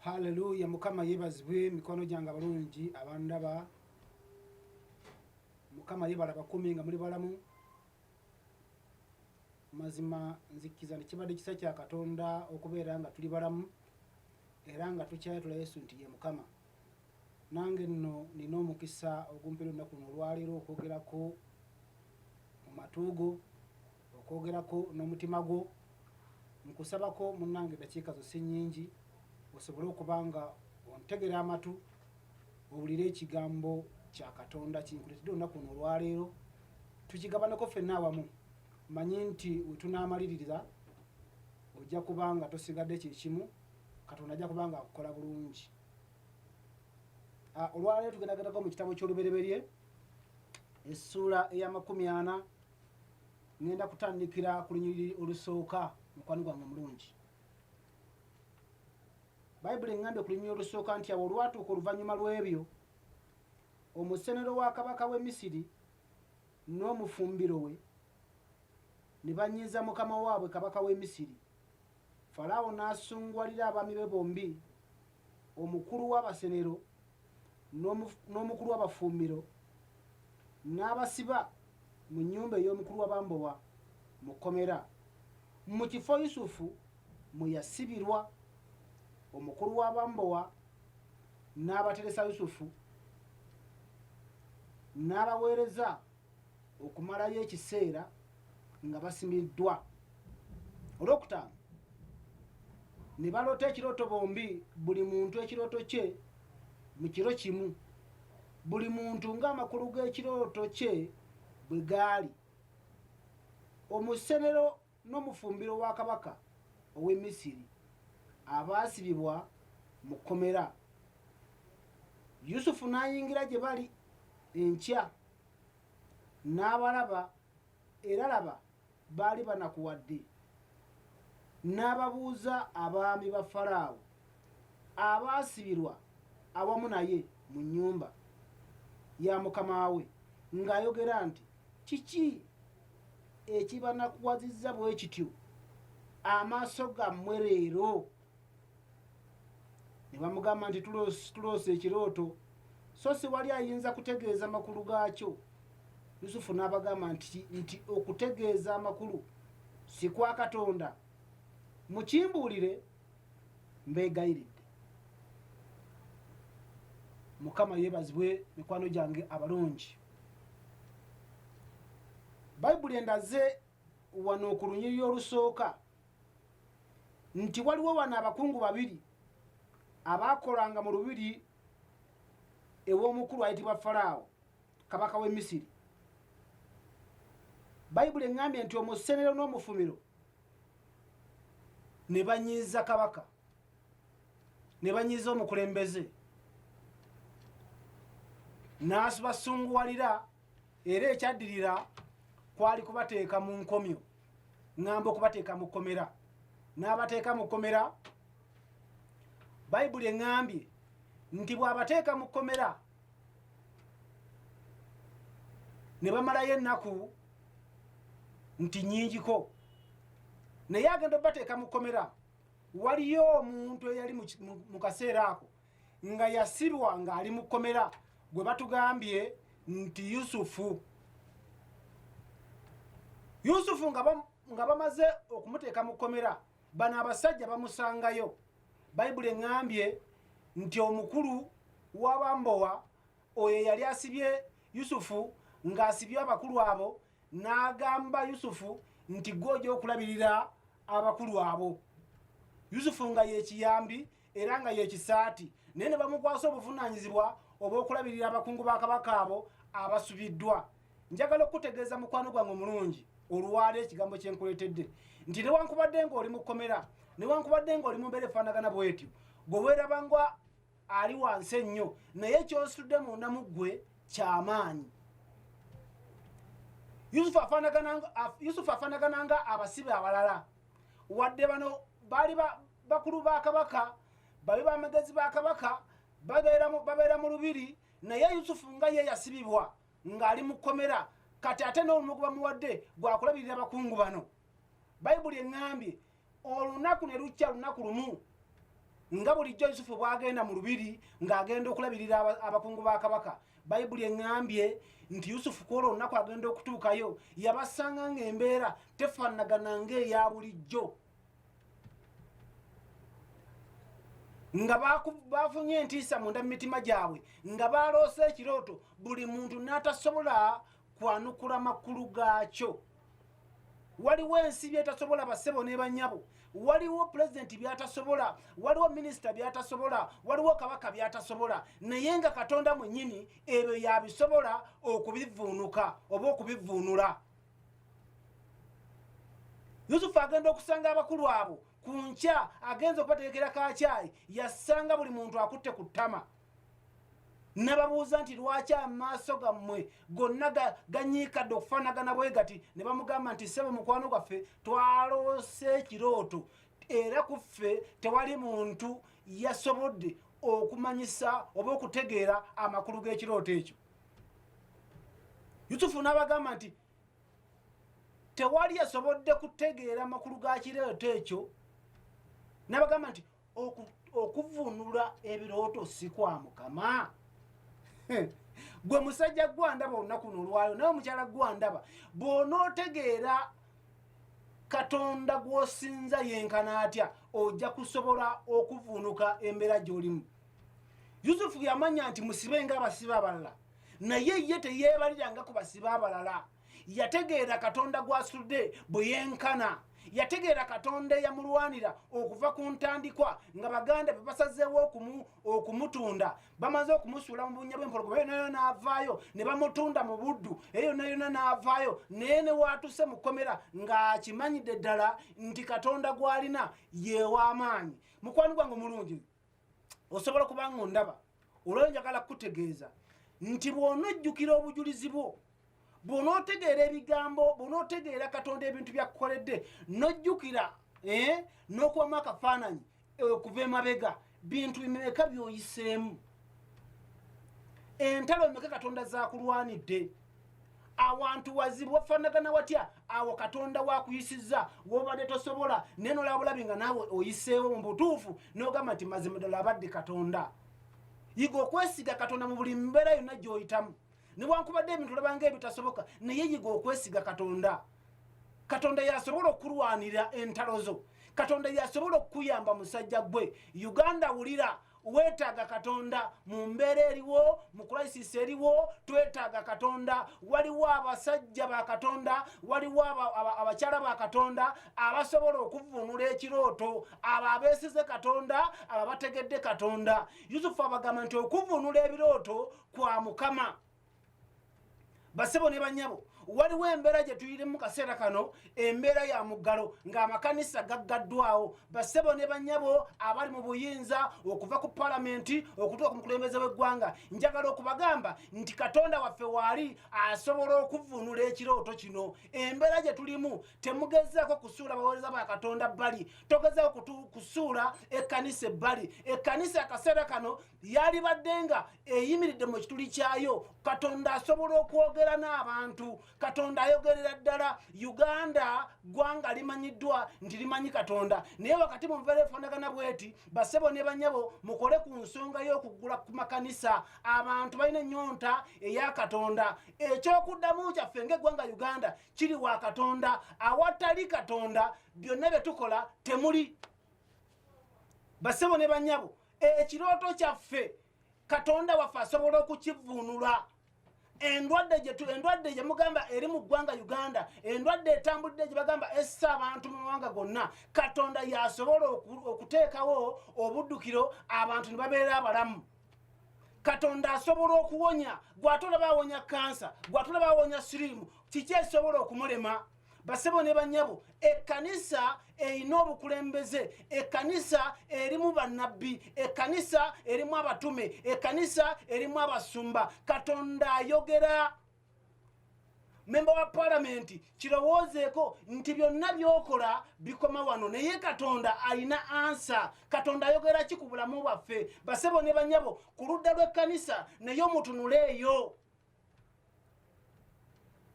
Hallelujah mukama yebazibwe mikono gyange abalungi abandaba mukama yebala bakumi nga muli balamu mazima nzikiza nekibadde kisa kya katonda okubeera nga tuli balamu era nga tukyayatula yesu nti ye mukama nange nno nina omukisa ogumpera olunaku no olwaleero okwogerako mu matuugo okwogerako n'omutima gwo nkusabako munange dakiika zo si nyingi osobole okuba nga ontegera amatu owulire ekigambo kya katonda kinkuletedde olunaku no olwaleero tukigabaneko ffenna awamu manyi nti wetunamalirira ojja kuba nga tosigadde kyekimu katonda ajja kuba nga akukola bulungi ah, olwaleero tugendagendako mu kitabo ky'olubereberye essuula ey'amakumi ana ngenda kutandikira ku lunyiriri olusooka mukwano gwange omulungi bayibuli eŋŋambye ku lunyiriri olusooka nti awo olwatuuka oluvannyuma lw'ebyo omusenero wa kabaka w'e misiri n'omufumbiro we ne banyiiza mukama waabwe kabaka w'e misiri falaawo n'asunguwalira abaami be bombi omukulu w'abasenero n'omukulu w'abafuumiro n'abasiba mu nnyumba ey'omukulu w'abambowa mu kkomera mu kifo Yusufu mwe yasibirwa omukulu w'abambowa n'abateresa Yusufu n'abaweereza okumalayo ekiseera nga basimiddwa olwokutaano ne baloota ekirooto bombi buli muntu ekirooto kye mu kiro kimu buli muntu ng'amakulu g'ekirooto kye bwe gaali omusenero n'omufumbiro wa kabaka ow'e Misiri abaasibibwa mu kkomera. Yusufu n'ayingira gye bali enkya n'abalaba, era laba, baali banakuwadde. N'ababuuza abaami ba Faraawo. abaasibirwa awamu naye mu nnyumba ya mukama we ng'ayogera nti kiki ekibanakuwazizza bwe kityo amaaso gammwe leero ne bamugamba nti tuloosa ekirooto so si wali ayinza kutegeeza amakulu gaakyo yusufu n'abagamba nti nti okutegeeza amakulu si kwa katonda mukimbuulire mbegayiridde mukama yebazibwe mikwano gyange abalungi bayibuli endaze wano ku lunyiriri olusooka nti waliwo wano abakungu babiri abaakolanga mu lubiri ew'omukulu ayitibwa falaawo kabaka w'e misiri bayibuli eŋŋambye nti omusenero n'omufumiro ne banyiiza kabaka ne banyiiza omukulembeze n'asubasunguwalira era ekyaddirira kwali kubateeka mu nkomyo ŋŋamba okubateeka mu kkomera n'abateeka mu kkomera bayibuli eŋŋambye nti bw'abateeka mu kkomera ne bamalayo ennaku nti nyingiko naye agenda obateeka mu kkomera waliyo omuntu eyali mu kaseera ako nga yasibwa ng'ali mu kkomera gwe batugambye nti yusufu yusufu nga bamaze okumuteeka mu kkomera bano abasajja bamusangayo bayibuli eŋŋambye nti omukulu w'abambowa oyo eyali asibye yusufu ng'asibye abakulu abo n'agamba yusufu nti gwe ojja okulabirira abakulu abo yusufu nga yekiyambi era nga yekisaati naye ne bamukwasa obuvunaanyizibwa obw'okulabirira abakungu ba kabaka abo abasubiddwa njagala okukutegeeza mukwano gwange omulungi olwala ekigambo kyenkuleetedde nti newankubadde nga oli mukomera newankubadde nga oli mumbeera efaanagana bwetyo gwe weerabanga ali wansi ennyo naye kyositudde munda mu ggwe kyamaanyi yusufu afaanagana nga abasibe abalala wadde bano baali bakulu ba kabaka babe bamagezi ba kabaka babeera mu lubiri naye yusufu nga ye yasibibwa ng'ali mu kkomera kati ate n'olumu gwe bamuwadde gwakulabirira abakungu bano bayibuli eŋŋambye olunaku ne lukya lunaku lumu nga bulijjo yusufu bwagenda mu lubiri ng'agenda okulabirira abakungu ba kabaka bayibuli eŋŋambye nti yusufu ku olwo olunaku agenda okutuukayo yabasanga ng'embeera tefaanagana ng'eya bulijjo nga bafunye entiisa munda mu mitima gyabwe nga baloosa ekirooto buli muntu n'atasobola kwanukula makulu gaakyo waliwo ensi byetasobola basebo nebanyabo waliwo pulezidenti byatasobola waliwo minisita byatasobola waliwo kabaka byatasobola naye nga katonda mwenyini ebyo yabisobola okubivuunuka oba okubivuunula yusufu agenda okusanga abakulu abo ku nkya agenza okubategekera kakyayi yasanga buli muntu akutte ku ttama nababuuza nti lwaki amaaso gammwe gonna ganyiikadde okufaanagana bwe gati ne bamugamba nti ssebo mukwano gwaffe twaloose ekirooto era ku ffe tewali muntu yasobodde okumanyisa oba okutegeera amakulu g'ekirooto ekyo yusufu n'abagamba nti tewali yasobodde kutegeera amakulu ga kirooto ekyo n'abagamba nti okuvunula ebirooto si kwa mukama gwe musajja gwandaba olunaku no olwalo naye omukyala gwandaba bw'onootegeera katonda gw'osinza yenkana atya ojja kusobola okuvunuka embeera gy'olimu yusufu yamanya nti musibe nga abasibe abalala naye ye teyeebaliranga ku basibe abalala yategeera katonda gwasudde bwe yenkana yategeera katonda eyamulwanira okuva ku ntandikwa nga baganda be basazeewo okumutunda bamaze okumusuula mu bunya bwempologoma eyo nayona n'avaayo ne bamutunda mu buddu eyo nayona n'avaayo naye ne waatuse mu kkomera ng'akimanyidde ddala nti katonda gw'alina yeew'amaanyi mukwano gwange omulungi osobola kubanga ondaba olwayo njagala kukutegeeza nti bw'onojjukira obujulizi bwo bw'onootegeera ebigambo bw'onootegeera katonda ebintu byakukoledde n'ojjukira eh, n'okubamu akafaananyi eh, okuva emabega bintu bimeka by'oyiseemu entalo emeka katonda zakulwanidde awantu wazibu wafanagana watya awo katonda wakuyisiza wobadde tosobola naye nolabulabi nga naawe oyiseewo mu butuufu nogamba nti mazima ddala abadde katonda yiga okwesiga katonda mu buli mbeera yonna gyoyitamu newankubadde ebintu olabanga ebitasoboka naye yiga okwesiga katonda katonda yasobola okulwanira entalo zo katonda yasobola okukuyamba musajja gwe uganda wulira weetaaga katonda mu mbeera eriwo mu kulayisisi eriwo twetaaga katonda waliwo abasajja ba katonda waliwo abakyala ba katonda abasobola okuvunula ekirooto abo abeesize katonda abo abategedde katonda yusufu abagamba nti okuvunula ebirooto kwa mukama basebo ne banyabo waliwo embeera gye tuyiri mu kaseera kano embeera ya muggalo ng'amakanisa gaggaddwawo basebo ne banyabo abali mu buyinza okuva ku palamenti okutuuka ku mukulembeze w'eggwanga njagala okubagamba nti katonda waffe waali asobola okuvunula ekirooto kino embeera gye tulimu temugezaako kusuula baweereza ba katonda bbali togezaako kusuula ekkanisa ebbali ekkanisa akaseera kano yalibadde nga eyimiridde mu kituli kyayo katonda asobola okwogera n'abantu katonda ayogerera ddala uganda ggwanga limanyiddwa nti limanyi katonda naye wakati mu nvera efaanagana bweti basebo ne banyabo mukole ku nsonga y'okuggula ku makanisa abantu balina ennyonta eya katonda ekyokuddamu kyaffe ngaeggwanga uganda kiri wa katonda awatali katonda byonna bye tukola temuli basebo ne banyabo ekirooto kyaffe katonda waffe asobola okukivvuunula endwadde gyetu endwadde gye mugamba eri mu ggwanga uganda endwadde etambulidde gye bagamba essa abantu mu mawanga gonna katonda yasobola okuteekawo obuddukiro abantu ne babeera abalamu katonda asobola okuwonya gwatolaba awonya kansa gwatolaba awonya siriimu kiki ekisobola okumulema basebo ne banyabo ekkanisa erina obukulembeze ekkanisa erimu bannabbi ekkanisa erimu abatume ekkanisa erimu abasumba katonda ayogera memba wa palamenti kirowoozeeko nti byonna byokola bikoma wano naye katonda alina ansa katonda ayogera ki ku bulamu bwaffe basebo ne banyabo ku ludda lw'ekkanisa naye omutunuleeyo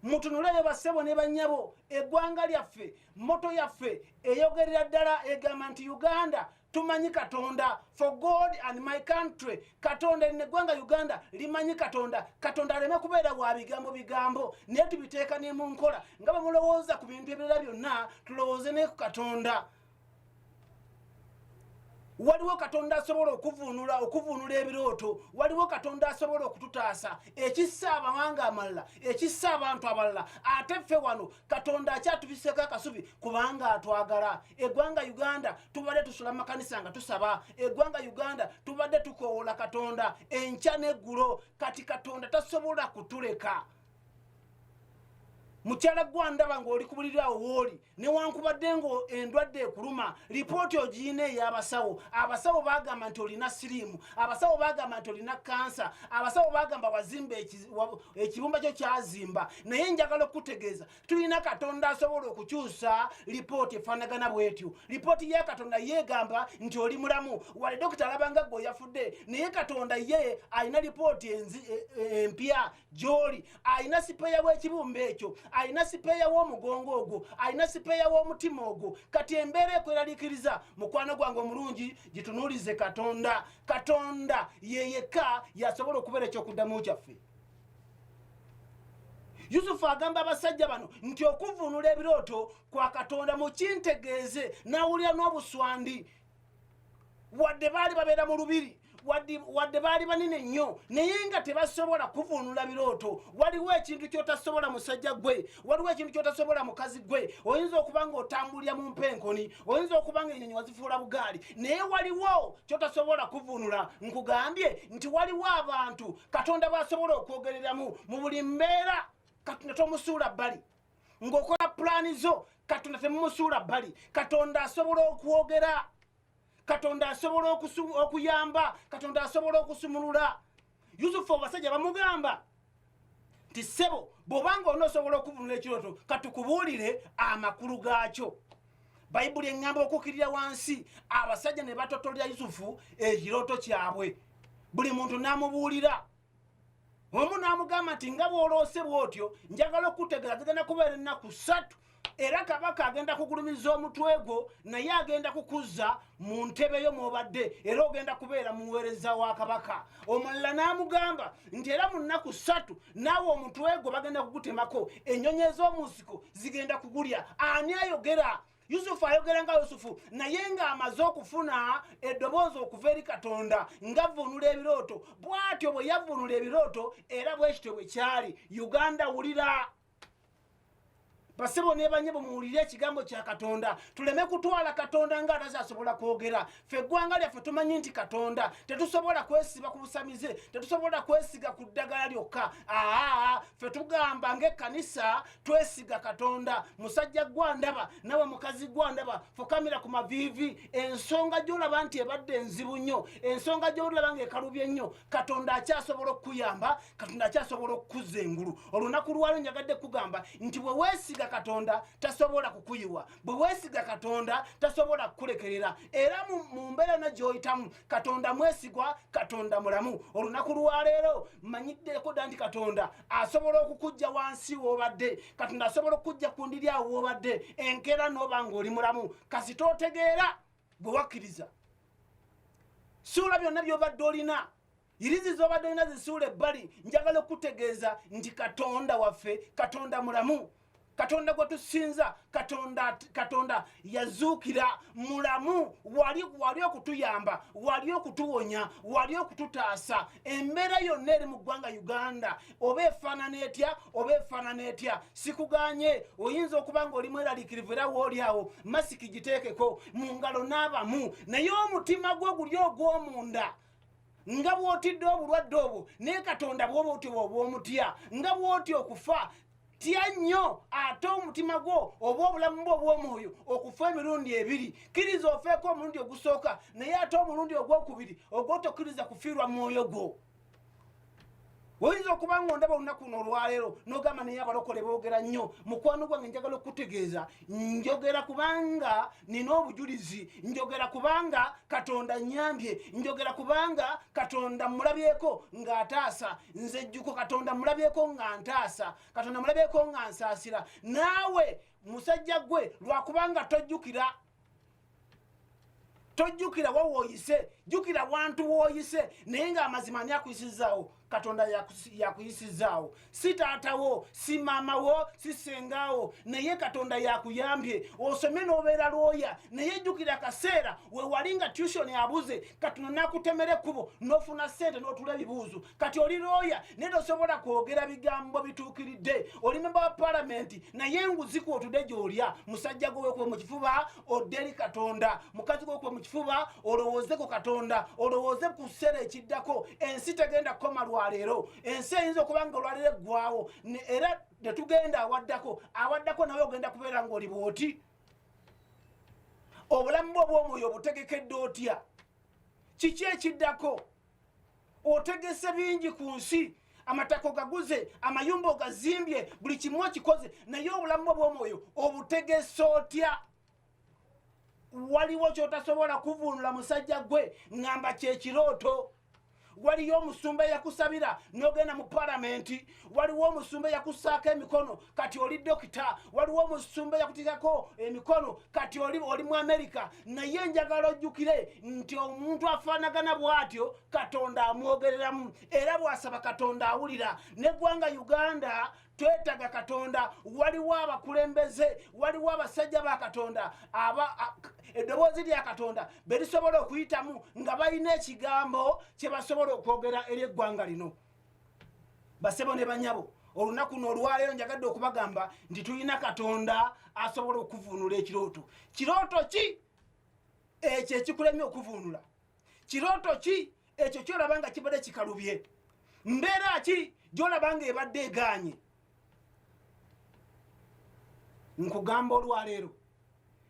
mutunuleyo bassebo ne bannyabo eggwanga lyaffe moto yaffe eyogerera ddala egamba nti uganda tumanyi katonda for god and my country katonda erina eggwanga uganda limanyi katonda katonda aleme kubeera wa bigambo bigambo naye tubiteeka ne mu nkola nga bamulowooza ku bintu ebirala byonna tulowooze ne ku katonda waliwo katonda asobola okuvunula okuvunula ebirooto waliwo katonda asobola okututaasa ekissa abawanga amalala ekissa abantu abalala ate ffe wano katonda akyatubiseko akasubi kubanga atwagala egwanga uganda tubadde tusula makanisa nga tusaba egwanga uganda tubadde tukowoola katonda enkya neggulo kati katonda tasobola kutuleka mukyala gwandaba ngaoli kubuliri awo wooli newankubadde nga endwadde ekuluma lipooti ogiina eyabasawo abasawo bagamba nti olina siriimu abasawo bagamba nti olina kansa abasawo bagamba wazimba ekibumba kyo kyazimba naye njagala okukutegeeza tulina katonda asobola okukyusa lipooti efaanagana bwetyo lipooti ya katonda yegamba nti oli mulamu wali dokita alabanga gwe oyafudde naye katonda ye alina lipooti e, e, empya gyoli alina sipeeya w'ekibumba ekyo alina sipeeya w'omugongo ogwo alina sipeeya w'omutima ogwo kati embeera ekweraliikiriza mukwano gwange omulungi gitunuulize katonda katonda yeyekka yasobola okubeera ekyokuddamu kyaffe yusufu agamba abasajja bano nti okuvunula ebirooto kwa katonda mukintegeeze nawulira n'obuswandi wadde baali babeera mu lubiri wadde baali banene nnyo naye nga tebasobola kuvuunula birooto waliwo ekintu kyotasobola musajja gwe waliwo ekintu kyotasobola mukazi gwe oyinza okuba nga otambulira mu mpa enkoni oyinza okuba nga enyonyi wazifuula bugaali naye waliwo kyotasobola kuvuunula nkugambye nti waliwo abantu katonda bwasobola okwogereramu mu buli mbeera katonda tomusuula bbali ng'okola pulaani zo katonda temumusuula bbali katonda asobola okwogera katonda asobola okuyamba katonda asobola okusumulula yusufu abasajja bamugamba nti ssebo bw'obanga onoosobola okuvunula ekirooto katukubuulire amakulu gaakyo bayibuli eŋŋamba okukkirira wansi abasajja ne batotolera yusufu ekirooto kyabwe buli muntu n'amubuulira omu n'amugamba nti nga bw'oloose bw'otyo njagala okukutegera agenda nakubeera ennaku ssatu era kabaka agenda kugulumiza omutwe gwo naye agenda kukuzza mu ntebe yo mwobadde era ogenda kubeera muweereza wa kabaka omulala n'amugamba nti era mu nnaku ssatu naawe omutwe gwo bagenda kugutemako ennyonyi ez'omu nsiko zigenda kugulya ani ayogera yusufu ayogera nga yusufu naye ng'amaze okufuna eddoboozi okuva eri katonda ngavunula ebirooto bwatyo bwe yavunula ebirooto era bwekityo bwe kyali uganda wulira basebo nebanye bumuwulire ekigambo kya katonda tuleme kutwala katonda nga atazasobola kwogera fe eggwanga lyaffe tumanyi nti katonda tetusobola kwesiba ku busamize tetusobola kwesiga ku ddagala lyokka aa fe tugamba ngaekkanisa twesiga katonda musajja gwandaba nawe mukazi gwandaba fukamira ku maviivi ensonga gyolaba nti ebadde enzibu nnyo ensonga gyolaba nga ekalubye nnyo katonda akyasobola okukuyamba katonda akyasobola okukuza engulu olunaku lwalo njagadde kugamba nti bwe weesiga katonda tasobola kukuyiwa bwe weesiga katonda tasobola kukulekerera era mu mbeera yona gyoyitamu katonda mwesigwa katonda mulamu olunaku lwaleero manyiddeko dda nti katonda asobola okukujja wansi woobadde katonda asobola okukujja ku ndiri awo woobadde enkeera nooba ngaoli mulamu kasi tootegeera bwe wakkiriza suula byonna byobadde olina irizi zobadde olina zisuula ebbali njagala okutegeeza nti katonda waffe katonda mulamu katonda gwe tusinza katonda katonda yazuukira mulamu wali wali okutuyamba wali okutuwonya wali okututaasa embeera yonna eri mu ggwanga uganda oba efaanana etya oba efaanana etya sikuganye oyinza okuba nga oli mweraliikirivu era wooli awo masiki giteekeko mu ngalo n'abamu naye omutima gwo guli ogw'omunda nga bwotidde obulwadde obwo naye katonda bwoba otyo bwoba omutya nga bwotya okufa tya nnyo ate omutima gwo oba obulamu bwo obw'omwoyo okufa emirundi ebiri kkiriza ofeeko omulundi ogusooka naye ate omulundi ogwokubiri ogwotokiriza kufiirwa mwoyo gwo oyinza okuba nga ondaba olunaku no olwaleero nogamba naye abalokole boogera nnyo mukwano gwange njagala okukutegeeza njogera kubanga nina obujulizi njogera kubanga katonda nyambye njogera kubanga katonda mulabyeko nga ataasa nze jjuko katonda mulabyeko nga ntaasa katonda mulabyeko nga nsaasira naawe musajja gwe lwakubanga tojjukira tojjukira wa wooyise jjukira wantu wooyise naye ng'amazima ani akuyisizaawo katonda yakuyisizaawo si taatawo si maamawo si sengaawo naye katonda yakuyambye osome n'obeera lwoya naye jjukira kaseera wewali nga tution abuze katonda nakutemera ekkubo n'ofuna ssente n'otula ebibuuzo kati oli looya naye tosobola kwogera bigambo bituukiridde oli memba wa palamenti naye enguziku otude gyolya musajja gwewekube mu kifuba odderi katonda mukazi gwewekube mu kifuba olowooze ku katonda olowooze ku kiseera ekiddako ensi tegenda kukoma lwaleero ensi eyinza okuba nga olwaleero eggwawo era netugenda awaddako awaddako nawe ogenda kubeera ngaoli bwoti obulamu bwe obwomwoyo obutegekedde otya kiki ekiddako otegese bingi ku nsi amatako gaguze amayumba ogazimbye buli kimu okikoze naye obulamu bwo bwomwoyo obutegese otya waliwo kyotasobola kuvunula musajja gwe ngamba kyekirooto waliyo omusumba yakusabira nogenda mu palamenti waliwo omusumba eyakusaako emikono kati oli dokita waliwo omusumba eyakutikako emikono kati oli oli mu amerika naye enjagala ojjukire nti omuntu afaanagana bw'atyo katonda amwogereramu era bw'asaba katonda awulira neggwanga uganda twetaga katonda waliwo abakulembeze waliwo abasajja ba katonda eddoboozi lya katonda berisobola okuyitamu nga balina ekigambo kyebasobola okwogera eri eggwanga lino basebo ne banyabo olunaku no olwaleero njagadde okubagamba nti tulina katonda asobola okuvuunula ekirooto kirooto ki ekyo ekikulemye okuvuunula kirooto ki ekyo kyolaba nga kibadde kikalubye mbeera ki gyolaba nga ebadde eganye nkugamba olwaleero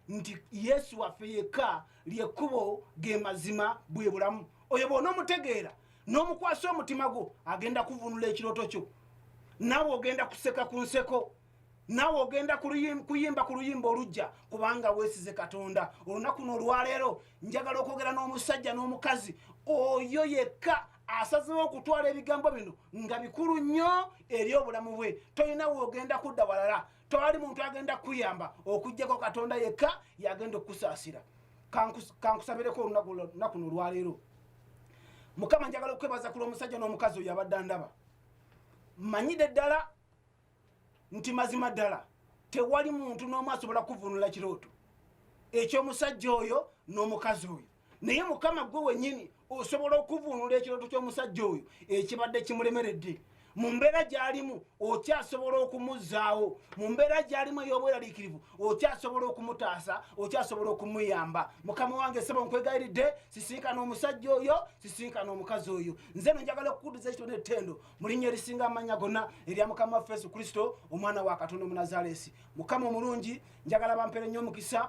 nti yesu waffe yekka lyekkubo ge mazima bwe bulamu oyo bwona omutegeera n'omukwasa omutima gwo agenda kuvunula ekirooto kyo naawe ogenda kuseka ku nseko naawe ogenda kuyimba ku luyimba olujja kubanga weesize katonda olunaku noolwaleero njagala okwogera n'omusajja n'omukazi oyo yekka asazewo okutwala ebigambo bino nga bikulu nnyo eri obulamu bwe tolina weogenda kudda walala towali muntu agenda kukuyamba okugjako katonda yekka yagenda okukusaasira kankusabireko olunakuno olwaleero mukama njagala okukwebaza kulwa omusajja n'omukazi oyo abadde andaba manyide ddala nti mazima ddala tewali muntu n'omu asobola kuvunula kirooto ekyomusajja oyo n'omukazi oyo naye mukama gwe wenyini osobola okuvunula ekirooto ky'omusajja oyo ekibadde kimulemeredde mu mbeera gy'alimu okyasobola okumuzzaawo mu mbeera gy'alimu ey'obweraliikirivu okyasobola okumutaasa okyasobola okumuyamba mukama wange sebo nkwegayiridde sisinkana omusajja oyo sisinkana omukazi oyo nze no njagala okukudiza ekitone ettendo mu linnya erisinga amannya gonna erya mukama waffe yesu kristo omwana wa katonda omunazaleesi mukama omulungi njagala bampere nnyo omukisa